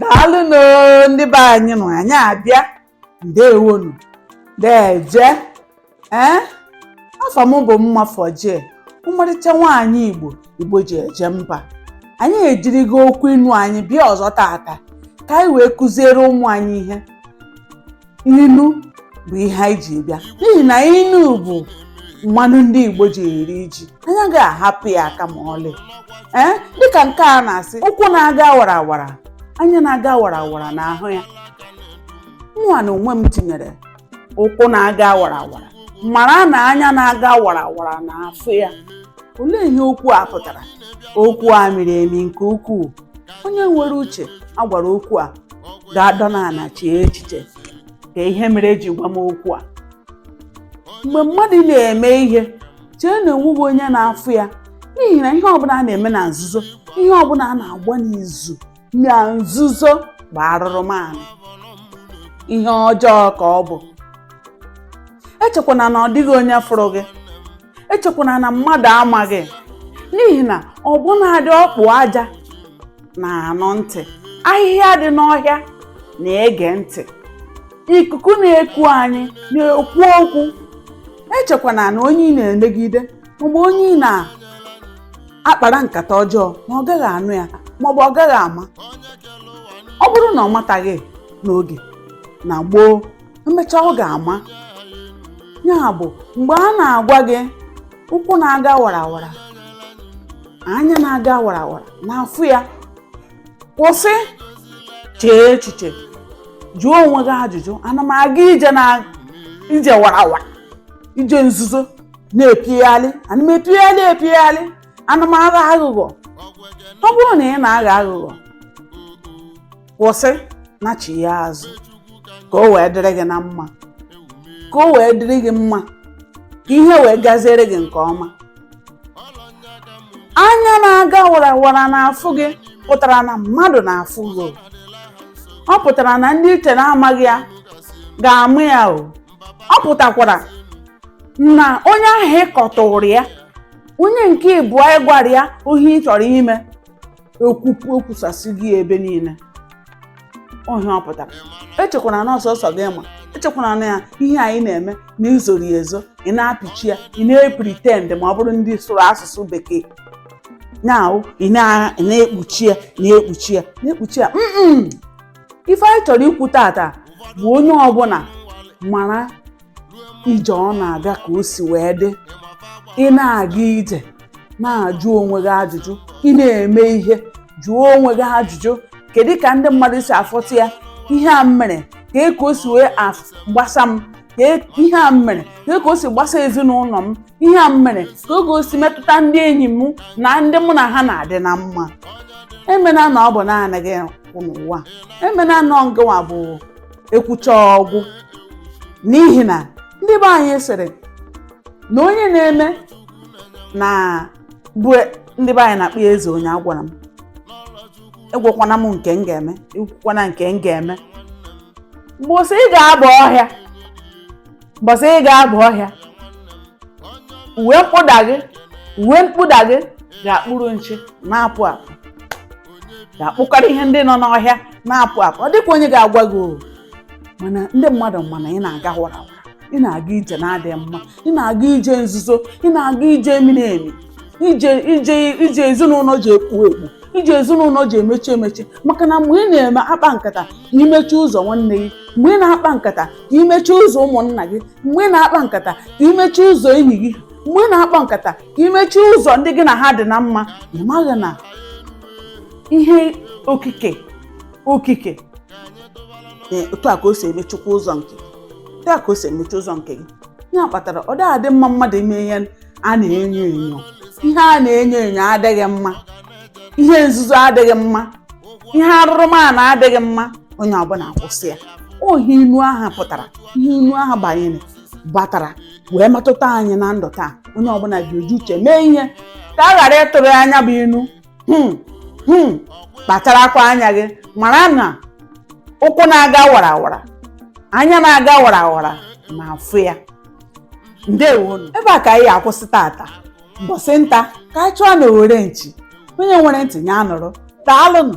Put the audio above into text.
daalụnụ ndị be anyị nnọọ anyị abịa ndewonu deje ee afa m bụ mma fọjie ọmarịcha nwaanyị igbo igbo ji eje mba anyị ejirigo okwu inu anyị bịa ọzọ tata ka anyị wee kụziere ụmụ anyị ihe inu bụ ihe anyị ji bịa n'ihi na inu bụ mmanụ ndị igbo ji eri ji anyị aga ahapụ ya aka ma ọlị ee dịka nke a na-asị ụkwụ na-aga warawara anya na-aga warawara na-ahụ ya mụnwa na onwe m tinyere ụkwụ na-aga warawara mara na anya na-aga warawara na-afụ ya olee ihe okwu a pụtara okwu a miri emi nke ukwuu onye nwere uche a gwara okwu a ga-adọ n'ala chee echiche ka ihe mere eji gwa m okwu a mgbe mmadụ na-eme ihe chee na o nweghị onye na-afụ ya n'ihi na ihe ọbụna a na-eme na nzuzo ihe ọbụna a na-agba n'izu na nzuzo bụ arụrụmanụ ihe ọjọọ ka ọ bụ echekwana na ọ dịghị onye fụrụ gị echekwana na mmadụ amaghị n'ihi na ọbụnadị ọkpụ aja na-anụ ntị ahịhịa dị n'ọhịa na-ege ntị ikuku na-eku anyị na-ekwu okwu echekwana na onye ị na-emegide maọbụ onye ị na-akpara nkata ọjọọ na ọ gaghị anụ ya maọbụ ọ gaghị ama ọ bụrụ na ọ mataghị n'oge na gboo emechaa ọ ga-ama ya bụ mgbe a na-agwa gị ụkwụ na-aga warawara anya na-aga warawara na-afụ ya kwụsị chee echiche jụọ onwe gị ajụjụ ana m aga ije na ije warawara ije nzuzo na-epigharị ana m epigharị epigharị ana m aghọ aghụghọ ọ bụrụ na ị na-aghọ aghụghọ kwụsị nachigha azụ ka o wee dịrị gị na mma ka o wee dịrị gị mma ka ihe wee gaziere gị nke ọma anya na-aga warawara na-afụ gị pụtara na mmadụ na-afụ gị o. ọ pụtara na ndị i che na amaghị ya ga-ama ya o ọ pụtakwara na onye ahụ ị kọtụrụ ya onye nke ịbụọ ị gwara ya ihe ị chọrọ ime ekwupụ ekwusasị gị ebe niile ọ ihe ọ pụtara echekwana na ọ sọsọ gị ma echekwana na ya ihe anyị na-eme na i zoro ezo ị na-apịchi ya ị na-epretend ma ọ bụrụ ndị sụrụ asụsụ bekee na-awụ ị na-ekpuchi ya na-ekpuchi ya na-ekpuchi ya ife anyị chọrọ ikwu tata bụ onye ọbụna mara ije ọ na-aga ka o si wee dị ị na-aga ije na-ajụ onwe gị ajụjụ ị na-eme ihe jụọ onwe gị ajụjụ kedu ka ndị mmadụ si afụta ya ihe a m mere kee ka o si wee af- gbasa m ka e- ihe a m mere kee ka o si gbasa ezinụlọ m ihe a m mere kee ka o si metụta ndị enyi m na ndị mụ na ha na-adị na mma emena na ọ bụ naanị gị n'ụwa emena na ngịnwa bụ ekwucha ọ gwụ n'ihi na ndị be anyị sịrị na onye na-eme na bụ ndị be anyị na-akpọ ya eze onye agwala m agwakwana m nke m ga-eme ekwukwana nke m ga-eme mbọsị ị ga-aba ọhịa mbọsị ị ga-aba ọhịa uwe mkpụda gị uwe mkpụda gị ga-akpụrụ nshị na-apụ apụ ga-akpụkọrọ ihe ndị nọ n'ọhịa na-apụ apụ ọ dịkwa onye ga-agwa gị o mana ndị mmadụ ma na ị na-aga wara wara ị na-aga ije na-adịghị mma ị na-aga ije nzuzo ị na-aga ije miri emi ije ije ije ezinụlọ ji ekpu ekpu ije ezinụlọ ji emechi emechi maka na mgbe ị na-eme akpa nkata ka imechi ụzọ nwanne gị mgbe ị na-akpa nkata ka imechi ụzọ ụmụnna gị mgbe ị na-akpa nkata ka imechi ụzọ enyi gị mgbe ị na-akpa nkata imechi ụzọ ndị gị na ha dị na mma ị maghị na ihe okike okike otu a ka o si emechikwa ụzọ nke otu a ka o si emechi ụzọ nke gị ya kpatara ọ dịghị adị mma mmadụ ime ihe a na-enyo enyo ihe a na-enyo enyo adịghị mma ihe nzuzo adịghị mma ihe arụrụala adịghị mma onye ọbụla kwụsị ya ọ ihe inu ahụ pụtara ihe inu ahụ banyere batara wee metụta anyị na ndụ taa onye ọbụla ji oji uche mee ihe ka a ghara ịtụrụ ya nya bụ inu hmm, hmm, kpacharakwa anya gị mara na ụkwụ na-aga wara wara anya na-aga wara wara na-afụ ya ndewonụ ebe a ka anyị akwụsị tata mbọsị nta ka anyị chụọ n'owere nchi onye nwere ntị nya nụrụ daalụnụ